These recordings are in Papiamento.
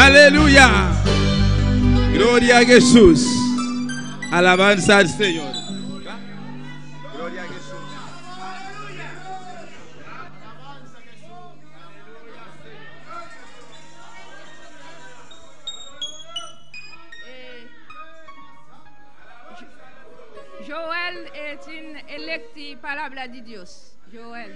Aleluya. Gloria a Jesus. Alabanza al Señor. Gloria a Jesus. Joel eh, tin electi palabra di Dios. Joel.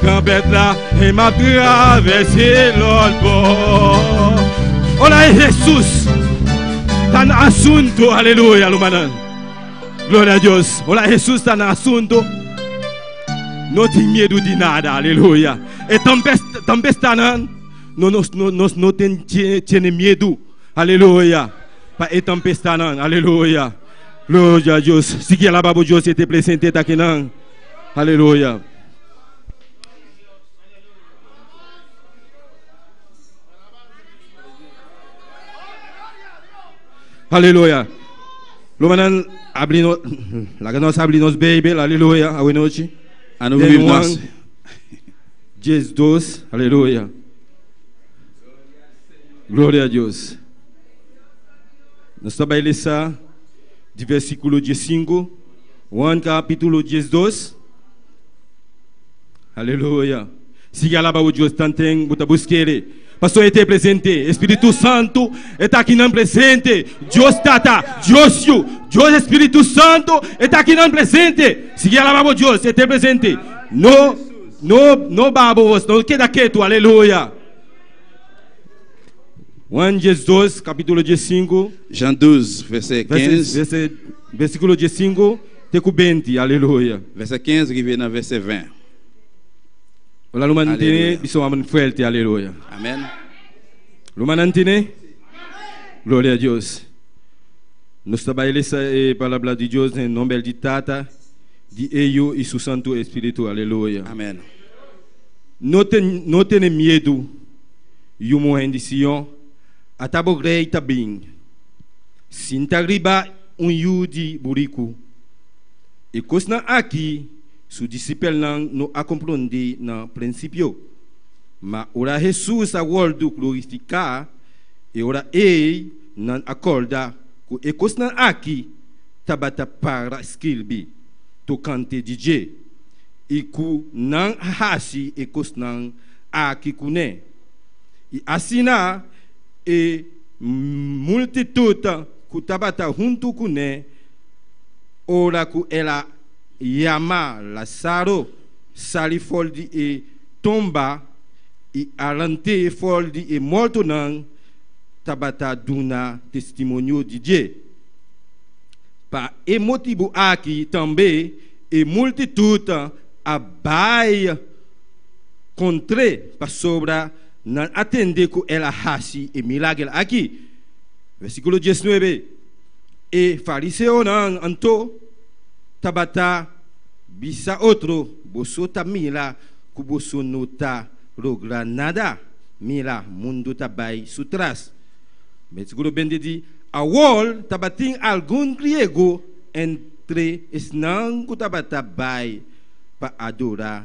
Gabetla e ma grave si lord bo. Ora e Jesus ta na asunto. Aleluya lo manan. Gloria a Dios. Ora Jesus ta na asunto. No tin miedo di nada. Aleluya. E tambe sta nan. No no no no no tin tiene miedo. Aleluya. Pa e tambe sta nan. Aleluya. Gloria a Dios. Sigi alaba bo Dios e te presente ta kinan. Aleluya. Aleluya. Lo manan abri no, la que nos abri nos Bijbel, aleluya, a noche. Ano Dei Juan, Jes 2, aleluya. Gloria a Dios. Nos está bailando de versículo 15 Juan capítulo 10, 2. Aleluya. Sigue alaba o Dios tanten buta busquere. Pastor este presente. Espíritu Santo está aquí nan presente. Dios Tata, Dios Yu, Dios Espíritu Santo está aquí nan presente. Sigue alaba o Dios este presente. No, no, no babo vos, no queda quieto. Aleluya. Juan 10, 2, capítulo 10, 5. Jean 12, verset 15. Verset, verset Versíkulo die sinku te ku benti. Aleluya. Vèsè kens riba na vèsè vèn. Ora lo mantene bisou amen fuerte. Aleluya. Amen. Lo manantene? Gloria a Dios. Nos ta bai lesa e palabra di Dios den nombel di Tata, di Eyu i su Santu Espiritu. Aleluya. Amen. No te no tene miedu, yu muhen di Sion, ata bo rei ta bin. Sinta riba un yu di buriku. E kosnan aki su disipelnan no a komprondé na prinsipio. Ma ora Hesus a wòrdu glorifiká, e ora ei nan a kòrda ku e kosnan aki tabata para skirbi tokante di dje i ku nan a hasi e kosnan aki kuné. I asina E multitut ku tabata huntu kuné ora ku el a yama Lazaro sali for di e tumba i a rant'é for di e mortonan tabata duna testimonio di dje. Pa e motibu aki tambe e multitut a bai kontr'é, pasobra Nan a tende ku el a hasi e milager aki. Versíkulo diesnuebe, E fariseonan anto tabata bisa otro, Boso ta mira ku boso no ta logra nada. Mira, mundu ta bai su tras. Versíkulo bende di, Awor tabatin algun griego entre esnan ku tabata bai pa adora.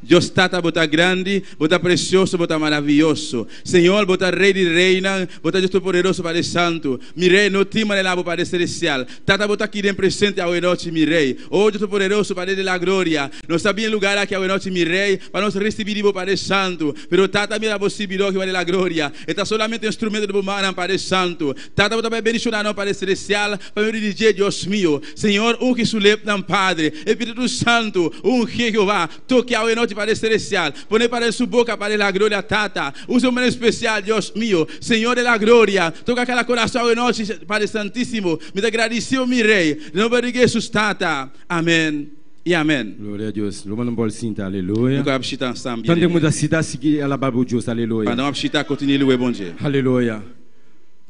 Dios Tata, bo ta grandi, bo ta presioso, bo ta maravioso. Señor, bo ta Rey di Reynan, bo ta Dios Topoderoso, Padre Santo. Mi Rey, no tin manera abo, Padre Celestial. Tata, bo ta aki den presente awe nochi, mi Rey. O Dios Topoderoso, Padre di la Gloria, nos ta bini lugar aki awe nochi, mi Rey, pa nos ricibi di bo, Padre Santo. Pero, Tata, mira bo sirbidor, Jeova di la Gloria, e ta solamente un instrumento di bo mannan, Padre Santo. Tata, bo ta bay bendiciona nos, Padre Celestial, pa medio di dje, Dios mio. Señor ungi su lepnan Padre, Espíritu Santu ungié Jehová, tokié awe nochi pa Rey Celestial, poné para el su boca para el a gloria Tata, usa un manera especial Dios mio, Señor de la Gloria, toca cada corazón awe nochi Padre Santísimo, mi ta gradicibo mi Rey, nomber di Jesus Tata, Amén y Amén. Gloria a Dios rumannan por sinta aleluya. Nuka a bishita nan staan bien Tande muda sita sigui alaba bo Dios aleluya. Pandan a bishita kontinié lué Bondje. Aleluya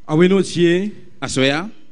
awe nochi e. Asoea.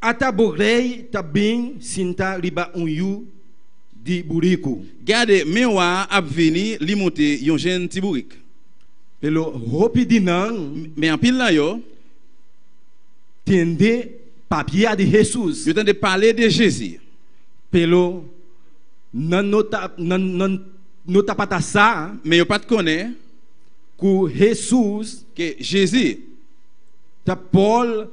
Ata bo rei ta bin sinta riba un yu di buriku? Gade, mi wak a bini li muti yu jinti burik. Pero hopi di nan. Me a pila yo. Tende papia di Jesus. Yo tende pale di Jezi. Pero nan no ta, nan, nan no tabata sa. Me yo pat kone. Ku Jesus. Ke Jezi. Ta por.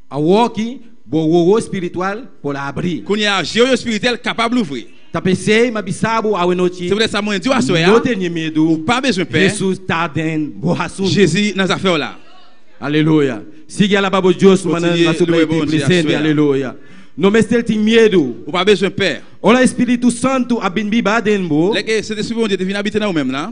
Awor aki bo wowo espiritual por abri. Kuné a hasié oyo espiritual kapab lufri? Ta p'esei m'a bisa bo awanochi, Siempre esa muhé di Wasoe a. No tene medu, Bo pa mes un p'e. Hesus ta den bo hasuntu. Jezi na sa few la. Aleluya. Sigui a laba bo Dios su manan na su blai tin presente. Aleluya. No mester tin miedu. Bo pa mes un p'e. Ora e Spiritu Santu a bin biba den bo. Lek e sende si bo un dia ta bini habita na bo mem la.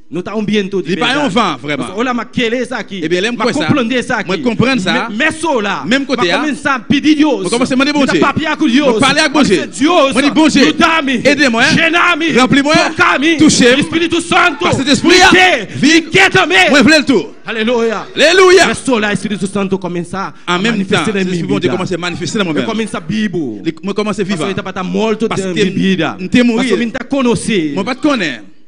No ta un bientu di berdad. Pasobra ora m'a kele esaki, m'a komprondé esaki, mès so la, m'a kuminsá pidi Dios, mi ta papia ku Dios, m'a di se, Dios, yuda mi, shena mi, toka mi, di Spiritu Santu, mi ke, mi ke tambe. Aleluya! Mès so la e Spiritu Santu kuminsá a manifestá den mi bida. Mi kuminsá bibu, pasobra i tabata mortu den mi bida, pasobra mi no ta konosé.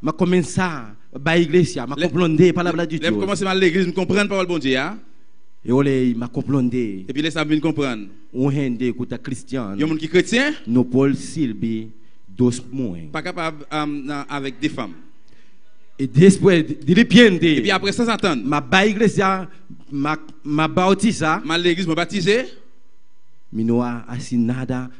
M'a comensá bai iglesia, m'a comprendé e palabra di Dios. Lem comensá bai leglis, mi comprend papel Bondje ya. E ora ei m'a comprendé. E biles a mi bin comprend. Un hende cu ta cristian. Yon mun ki cretien. No por sirbi dos muhe. Paca pa na avec de fam. E despues di ripiente. Epi apres sa Satan. M'a bai iglesia, m'a m'a bautisá. M'a leglis, m'a batizé. Mi no a haci nada.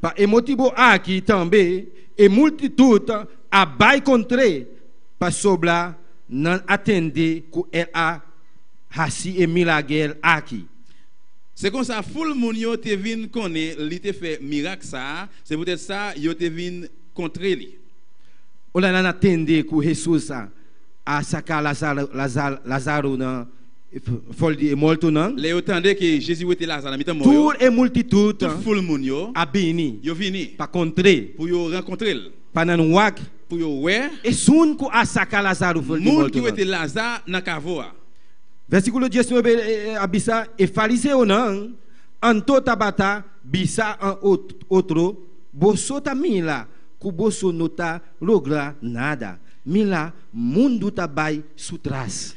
Pa e motibu aki tambe e multitut a bai contr'é, pasobra nan a tende cu el a haci e milager aki. Se consta ful mun yo te vin cone li te fe mirag sa, se pudet sa yo te vin contr'é li. Ora nan a tende cu Hesus a saca Lazaru na. for di e mortonan. Lei yo tande ke Jezi wete Lazaro, Mi ta mor yo. Tur e multitudnan a bini pa kontr'é, pur yo rankontr'el, pa nan wak, pur yo wè Esun ku a saka Lazaro for di mortonan. Mun ki wete Lazaro na kavo'a. Versíkulo dies nuebe a bisa, E fariseonan anto tabata bisa un otro, Boso ta mira ku boso no ta logra nada. Mira, mundu ta bai su tras.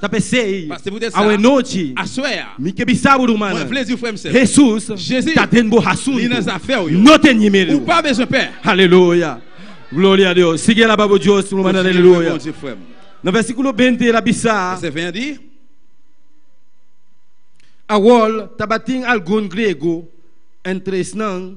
Ta p'esei, awenochi, mi ke bisa bo rumannan, Hesus ta den bo hasuntu. No teni medu. Aleluya! Gloria a Dios! Sigui alaba bo Dios, rumannan. Aleluya! Na versikulo binte el a bisa, Awor tabatin algun grego entre esnan,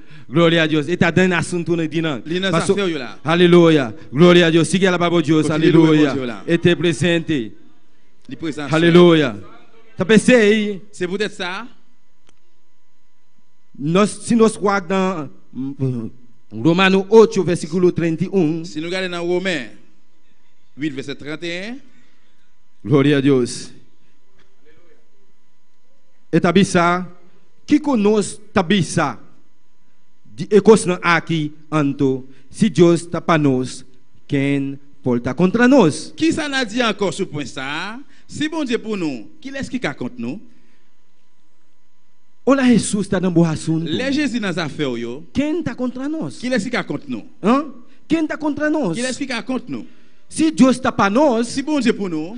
Gloria a Dios. E ta den asuntunan di nan. Linda sa seu yula. Haleluya. Gloria a Dios. Sigui alaba bo Dios. Haleluya. E te presente. Di pues nan seu. Haleluya. Ta pesey. Se bu det sa. Nos si nos wak nan Romano ocho versiculo treinta i un. Si nou gade nan Rome uit vèsè trenta i un. Gloria a Dios. E ta bisa. Kiko nos ta bisa di e kosnan aki? Anto si Dios ta pa nos, ken por ta kontra nos? Kisa na dje ankor su puesta, Si bon dje punu, kil es ki ka kont nu? Ola Hesus ta den bo hasuntu. Le Jezi na zafeo yo. Ken ta kontra nos? Kil es ki ka kont nu? Ken ta kontra nos? Kil es ki ka kont nu? Si Dios ta pa nos. Si bon dje punu.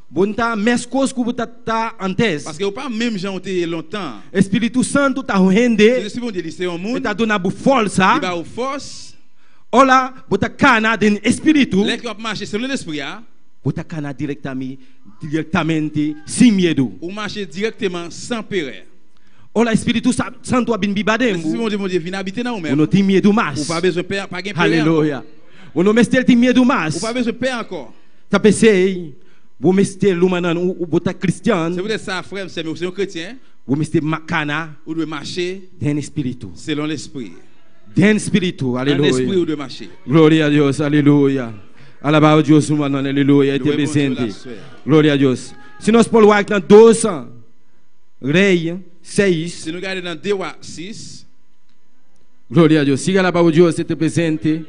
Bo n'ta meskos ku bo ta ta antes. Paske bo pa mem jan bo te e lontan. E Spiritu Santu ta un hende. Jesus sibi un dia di se un mun. E ta duna bo forsa. Riba un fos. Ora bo ta kana den e Spiritu. Lek yap masha segun el espria. Bo ta kana direktami direktamente sin miedu. Un masha direkteman san pere. Ora e Spiritu Santu a bin biba den bo. Jesus sibi un dia bo dia vin abite na ou mem. Bo no tin miedu mas. Bo pa bezwen pè, pa gen pere anko. Aleluya. Bo no mester tin miedu mas. Bo pa bezwen pè anko. Ta pesey bo mester luma nan u bo ta kristian. Se bo ta sa afrèm sème u ser un kretien. Bo mester makana. U dwe mashe. Den spiritu. Selon lespri. Den spiritu. Aleluya. Nan lespri u dwe mashe. Gloria a Dios. Aleluya. Alabao Dios su mannan. Aleluya. E te presente. Gloria a Dios. Si nos por wak na dos Rey seis. Si no gade nan de wak sis. Gloria a Dios. Siga alabao Dios. E te presente.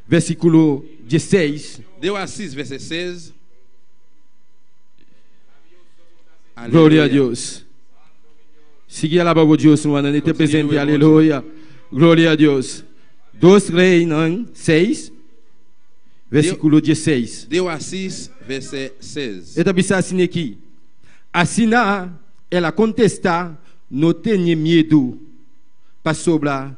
versículo dieseis. Deo a asís, verse seis. Gloria a Aleluya. Dios. Sigui alaba bo Dios nu andan di te Continue presente. with worship. Aleluya. Gloria a Dios. Dos Reinan seis, versículo dieseis. Deo a asís, verse seis. E ta bisa asin aki. Asina el a kontestá, No tene miedu, pasobra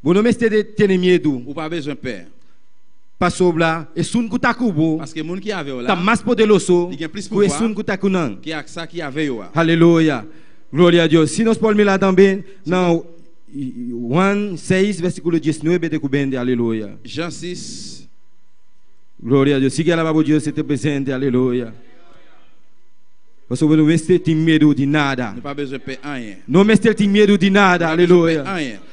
Bo no mester di tene miedu. Bo pa beswen p'e. Pasobra esun ku ta ku bo. Paske mun ku Yahvé ola. Ta mas poderoso. I gen plis pulpa. Ku esun ku ta ku nan. Ke aksa ku Yahvé yoa. Haleluya! Gloria a Dios! Si nos por mira tambe na Juan seis, versíkulo diesnuebe te ku bende. Haleluya! Jan sis. Gloria a Dios! Sigui alaba bo Dios, e ta presente. Haleluya! Pasobra no mester tin miedu di nada. No pa beswen p'e añe. No mester tin miedu di nada. Haleluya! No pa beswen p'e añe.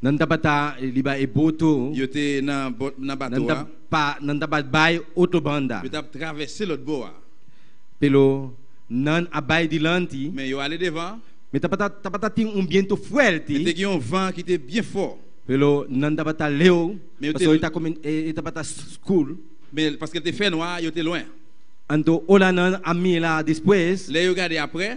Nan tabata riba e boto. Yu te na bot na bato a. Nan ta pa bai otro banda. Yu ta travesé lòt bo a. Pero nan a bai dilanti. Men yu a le devan. Men tabata tin un bientu fuerti. Men te gin un van ki te bien fò. Pero nan tabata leu. Pasobra e tabata skur. Men paske el te fenwa, yu te luen. Anto olanan a mira despues. Le yu gadi aprè.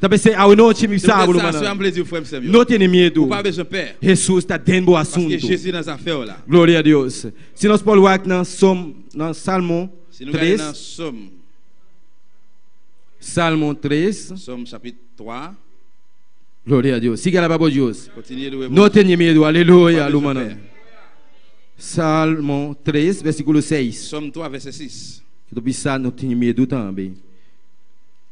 Ta besé awe nochi mi sa bo lo mana. No tene miedu. Jesus ta den bo asuntu. Gloria a Dios. Si nos por wak na som na Salmo 3. Salmo 3. Som chapit 3. Gloria a Dios. Sigui alaba bo Dios. No tene miedu. Aleluya lo mana. Salmo 3 versikulo 6. Som 3 verse 6. Kito bisa no tene miedu tambe.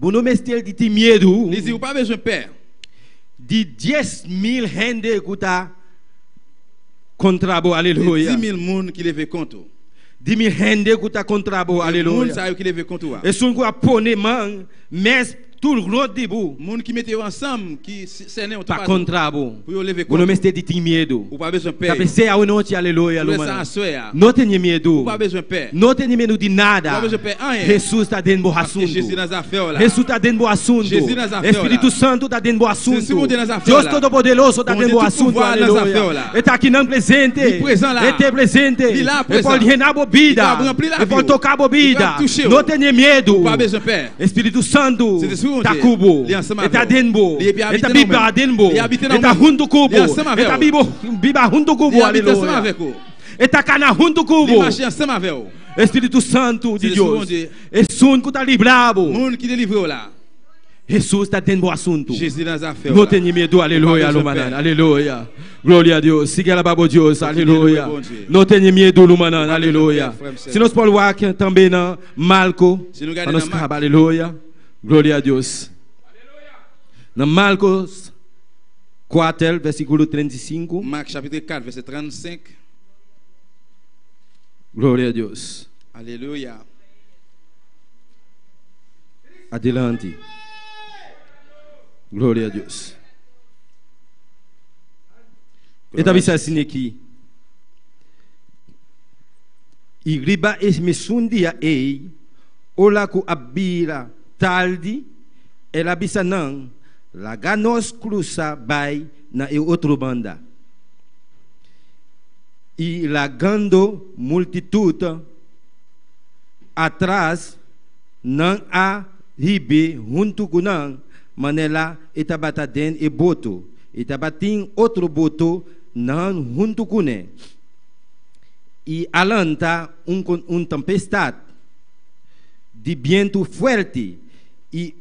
Bo no mester di tin miedu. Ni si bo pa beswen p'e. Di dies mil hende ku ta kontra bo, aleluya. Di di mil mun ki leve kontu. Di mil hende ku ta kontra bo, aleluya. E mun sa yo ki leve kontu a. Esun ku a pone man mes tur ront di bo. Mun ki mete yo ansamb ki. ta contra bo. Bo no mester di tin miedu. Ta pesey awe nochi, aleluya, lumanan. No tene miedu. No tene miedu di nada. Jesus ta den bo hasuntu. Jesus ta den bo hasuntu. Espiritu Santu ta den bo hasuntu. Dios Todopoderoso ta den bo hasuntu, aleluya. E ta akinan presente. E te presente. E por hena bo bida. E por toca bo bida. No tene miedu. E Spiritu Santu ta ku bo, e ta den bo, e ta biba den bo, e ta huntu ku bo, e ta biba huntu ku bo, aleluya, e ta kana huntu ku bo. E Spiritu Santu di Dios esun ku ta libra bo. Jesus ta den bo asuntu. No tene miedu, aleluya, lumanan, aleluya. Gloria a Dios, sigui alaba bo Dios, aleluya. No tene miedu, lumanan, aleluya. Si nos por wak tambe nan. Malco pa nos caba aleluya gloria a Dios na Marcos cuater versiculo treinta y sinku gloria a Dios adelante gloria a Dios e ta bisa asina aki. i riba es mesun dia ei, ora ku a bira tardi, el a bisa nan, Laga nos krusa bai na e otro banda. I lagando multitut atras, nan a hibi huntu ku nan, manera e tabata den e boto. I tabatin otro boto nan huntu kuné. i a lanta un con un tempestad di bientu fuerti, i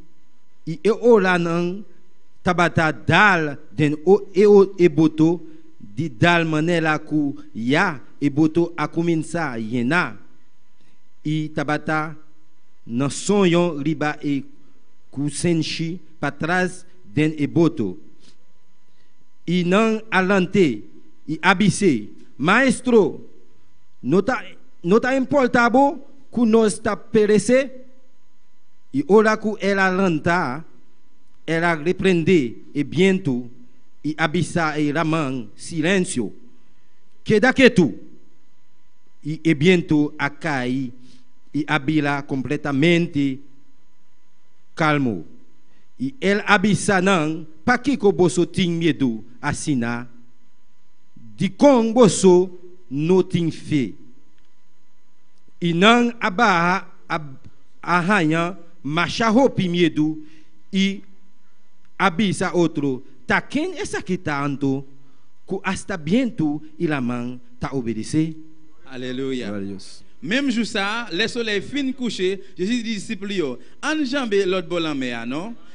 e olanan tabata dal den e boto di dal manera cu ya e boto a cuminsa yena, i tabata na soño riba e cu senshi patras den e boto. I nan a lant'é, i a bis'é, Maestro, no ta no ta importá bo ku nos ta peresé? I ora ku el a lantá, el a reprendé e bientu i a bisa e raman, Silensio! Keda ketu! I e bientu a kai i a bira kompletamente kalmu. I el a bisa nan, Pakiko boso tin miedu asina? Dikon boso no tin fe? I nan a baha a haña masha hopi miedu i a bisa otro, Ta ken esaki ta anto ku asta bientu i laman ta obedes'é? Aleluya! Memshu sa, lèsola e fin kush'é, Jesus di disipulnan, An jambe lòt bolan mea, no?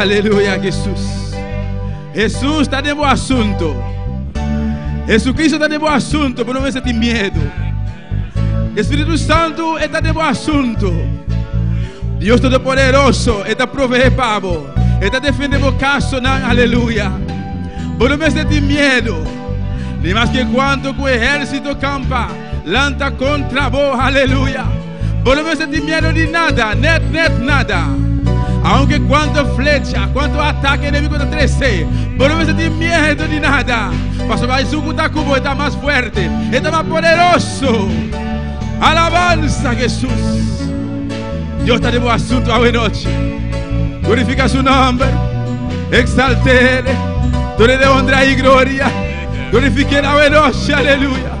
Aleluya Jesus. Jesus ta den bo asunto. Jesucristo ta den bo asunto, pero no mester tin miedo. Espíritu Santo e ta den bo asunto. Dios Todopoderoso e ta provee pa bo. E ta defende bo caso nan. Aleluya. Bo no mester tin miedo. Ni mas que cuanto cu ejército campa. Lanta contra bo, aleluya. Bo no mester tin miedo di nada, net net nada. Aunke cuanto flecha, cuanto ataque enemigo ta trece, bo no mester tin miedo di nada, pasobra Jesús cu ta cu bo e ta mas fuerte, e ta mas poderoso. Alabanza Jesús. Dios ta den bo asunto awe nochi. Glorifica su nomber, exaltele, done de honra y gloria. Glorifiquel awe nochi, aleluya.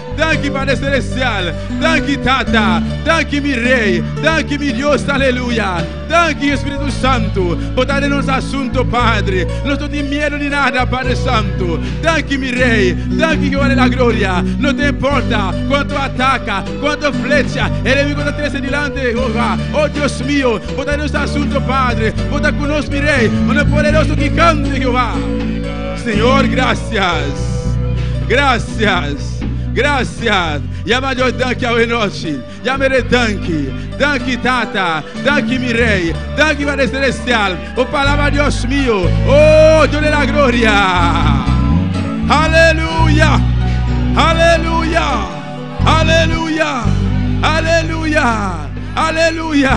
Danki Padre Selestial, danki Tata, danki mi Rey, danki mi Dios Aleluya, danki Espiritu Santu, bo ta den nos asunto Padre, nos no tin miedo di nada Padre Santu, danki mi Rey, danki Jehoa de la Gloria, no ta importa cuanto ataka, cuanto flecha e enemigo ta trese dilanti Jehoa, oh Dios mio, bo ta den nos asunto Padre, bo ta cu nos mi Rey, bo na poderoso gigante Jehoa. Señor, gracias, gracias, gracias. Ya ma Dios danki awe nochi. Ya mere danki. Danki Tata, danki mi Rey, danki Padre Celestial. O palabra Dios mio. Oh, Dios de la gloria. Aleluya, aleluya, aleluya, aleluya, aleluya.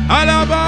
Alabanza.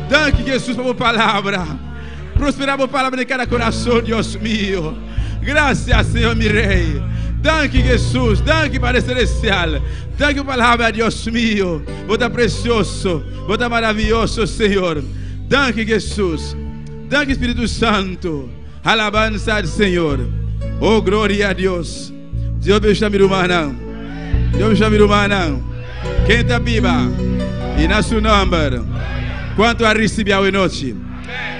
Danki Jesus pa bo palabra. Prospera bo palabra den cada corazon Dios mio. Gracias Señor mi Rey. Danki Jesus, danki Padre Celestial. Danki pa palabra Dios mio. Bo ta precioso, bo ta maravilloso Señor. Danki Jesus. Danki Espíritu Santo. Alabanza al Señor. Oh gloria a Dios. Dios bishta mi rumannan. Dios bishta mi rumannan. Ken ta biba i na su nomber. Kuantu a risibi awe nochi?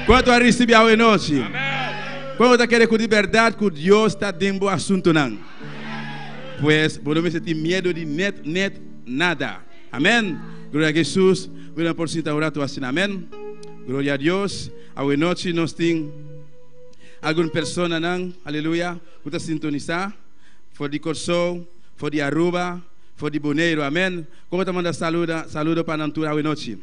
Kuantu a risibi awe nochi? Kuantu ta kere ku di berdad ku Dios ta den bo asuntunan? Pues bo no mester tin miedu di net net nada. Amen. Gloria a Jesus. Wi nan por sinta un ratu asina? Amen. Gloria a Dios. Awe nochi nos tin algun personanan, aleluya, ku ta sintonisá for di Kòrsou, for di Aruba, for di Boneiru. Amèn. Kon bo ta manda saluda? Saludo pa nan tur awenochi.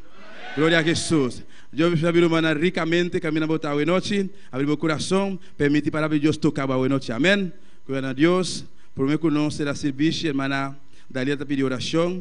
Gloria a Hesus. Dios mi sabi ruma nan rikamente kaminda bo ta awenochi. Abri bo kurason, pèmiti palabra di Dios toka bo awenochi. Amèn. Gloria na Dios. Promé ku nos sera sirbishi, Hermana Daliela ta pidi orashon.